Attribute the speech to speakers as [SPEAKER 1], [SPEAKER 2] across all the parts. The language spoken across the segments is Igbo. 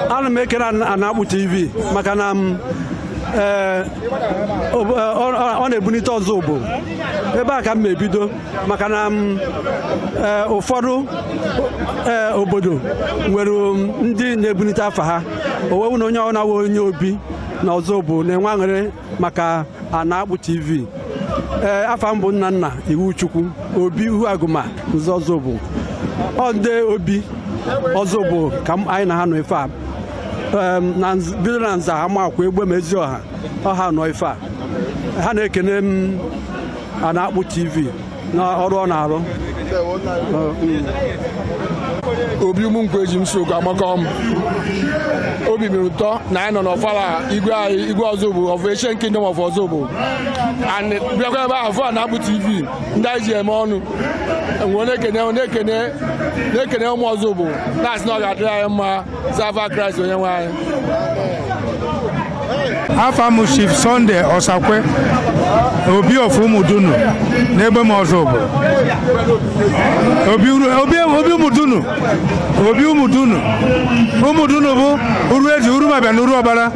[SPEAKER 1] ana m ekele Anakpu TV maka na m ee ọ na-ebunite Ozubulu ebe a ka m na-ebido maka na m ee ụfọdụ ee obodo nwere ndị na-ebunite afa ha owewu na onye ọ na-awa onye obi na Ozubulu na-enwe aṅụrị maka Anaakpụ TV ee afa m bụ Nnanna Iwuchukwu obi Uhu Agụma Nza Ozubulu ọ ndị obi Ozubulu ka m- anyị na ha nọ ife a Em, na nz- bido na Nza Amakwa Egbema Eziọha ọ ha nọ ife a ha na-ekene m Anaakpụ TV n'ọrụ ọ na-arụ obi ụmụnkwụ eji m sokwu agbakọ m obi mere ụtọ na anyị nọ n'ọfala igwe anyị igwe Ozubulu of Ancient Kingdom of Ozubulu and bịakwa ebe ahụ fụ Anaakpụ TV ndị anyị ji eme ọnụ e wee na-ekene na-ekene na-ekene ụmụ Ozubulu na-asị na ọ ga-adịrị anyị mma n'afa Kraịst onye nwe anyị. afa m chief Sunday Osakwe obi of Umudunu n'Egbema Ozubulu obi uru- obi obi Umudunu obi Umudunu Umudunu bụ Uruezi Urumabiam na Uruokpala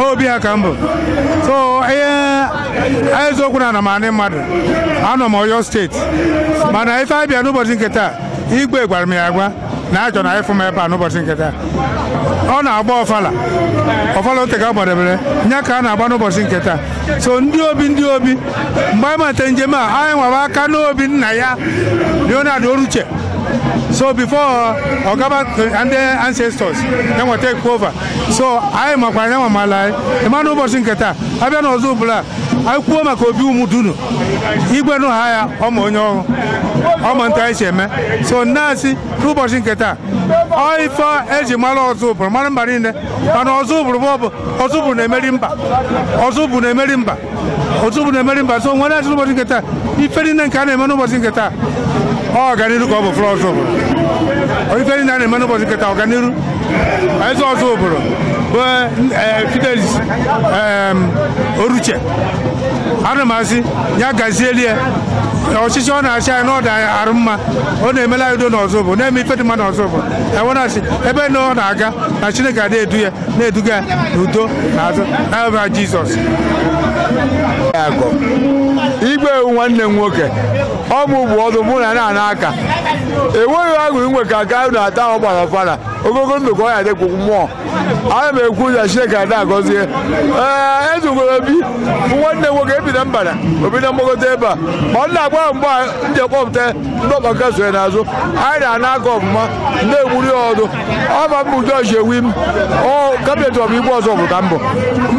[SPEAKER 1] ọ obi ha ka m bụ so ihe eziokwu na anọ m ani mmadụ anọ m Ọyọ steeti mana ife abịa n'ụbọchị nke taa igwe gwara m ya agwa na achọ na ịfụ m ebe a n'ụbọchị nke taa ọ na-agba ọfala ọfala o teka a gbadebere nya ka a na-agba n'ụbọchị nke taa so ndị obi ndị obi mgbe anyị mata njem a anyị nwere aka n'obi nna ya Leonard Oruche so before ọ gaba ndị ancestors ya wee take over so anyị makwa anyị nwa mala anyị ịma n'ụbọchị nke taa abịa n'Ozubulu anyị kwuo maka obi Umudunu igwe nụ ha ya ọma onye ọrụ ọma nta anyị si eme so m na-asị n'ụbọchị nke taa ọ ife eji mara Ozubulu mara mba niile ma na Ozubulu bụ ọ bụ Ozubulu na-emeri mba Ozubulu na-emeri mba Ozubulu na-emeri mba so m wee na-asị n'ụbọchị nke taa ife niile nke a na-eme n'ụbọchị nke taa ọ ọganiru ka ọ bụ for Ozubulu ife niile a na-eme n'ụbọchị nke taa ọganiru Eze Ozubulu bụ eh, Fidelis em, Oruche ana m asị ya gazieli ya ọchịchị ọ na-achị anyị n'ọda arụ mma ọ na-emela anyị udo n'Ozubulu na-eme ife dị mma n'Ozubulu e wee na-asị ebe na ọ na-aga na chineke adị edu ya na-eduga ya n'udo na azụ n'afa jizọs igwe ewu nwanne m nwoke ọ mụ bụ ọdụ mụ na na aka enweghị agụ inwe ka aka na-ata ọ gbara fara ogogo ndụ ka ọ ya dịkwụ mmụọ ana m ekwu ụzọ chineke ada agọzie ee ezugoro obi bụ nwanne nwoke ebi na mbara obi na mgbagote ebe a ma ọ na-agba ya mgbe a ndị kpọpụta ndị ọkpa nke sonye n'azụ anyị na-ana aka ọfụma na-egburi ya ọdụ ọba mbụ jọji ewi m ọ kabinet ọbụ igwe ọzọ pụta mbụ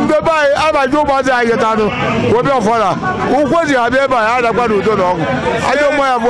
[SPEAKER 1] ndebe anyị abaji ụmụazị anyị geta anụ webe ọfala ụkwụ e ji abịa ebe a ya adakwa n'udo na ọgwụ ajọ nwa ya bụ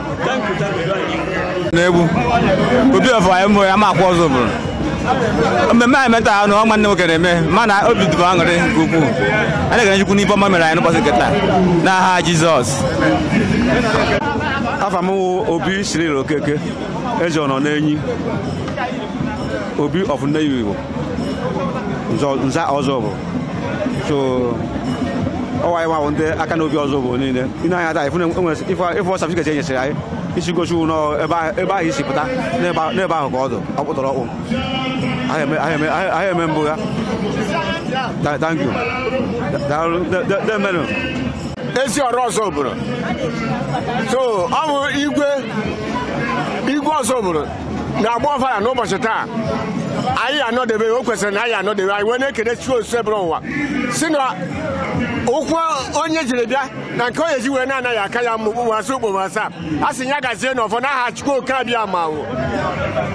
[SPEAKER 1] n'egwu obi ọfọ anyị mụ ya amakwa ọzụbụlụ mmemme anyị me taa bụ nwanne m nwoke na-eme mana obi dị m aṅụrị nke ukwuu a na-ekene chukwu n'ife ọma mere anyị n'ụbọchị nke taa n'aha jizọs afa m wụ obi siril okeke eze ọnọ n'enyi obi ọfọ nne igbo nza ọzụbụ so ọ wụ anyị nwa wụ ndị aka n'obi ọzụbụlụ niile i nee anya taa ị fụ na e nwere ife ọ satifiketi e nyesịrị anyị isi gosi wụ nọ ebe ahụ- ebe ahụ i si pụta n'ebe ahụ- n'ebe ahụ ka ọ dụ ọkpụtọrọkpụ Anyị eme- anyị eme- anyị- anyị eme mbụ ya Ta- thank you daalụ de- de- deme nụ eziọra ọzụbụlụ so ọ bụ igwe igwe ọzụbụlụ na-agba ọfala n'ụbọchị taa anyị anọdebe o kwesịrị na anyị anọdebe anyị wee na-ekele chukwu osebụrụwa sị na ụkwụ onye jiri bịa na nke onye ji wee na-ana ya aka ya mma okpukpu asaa okpukpu asaa a sị ya gazie n'ọfọ n'aha Chukwu oke abịama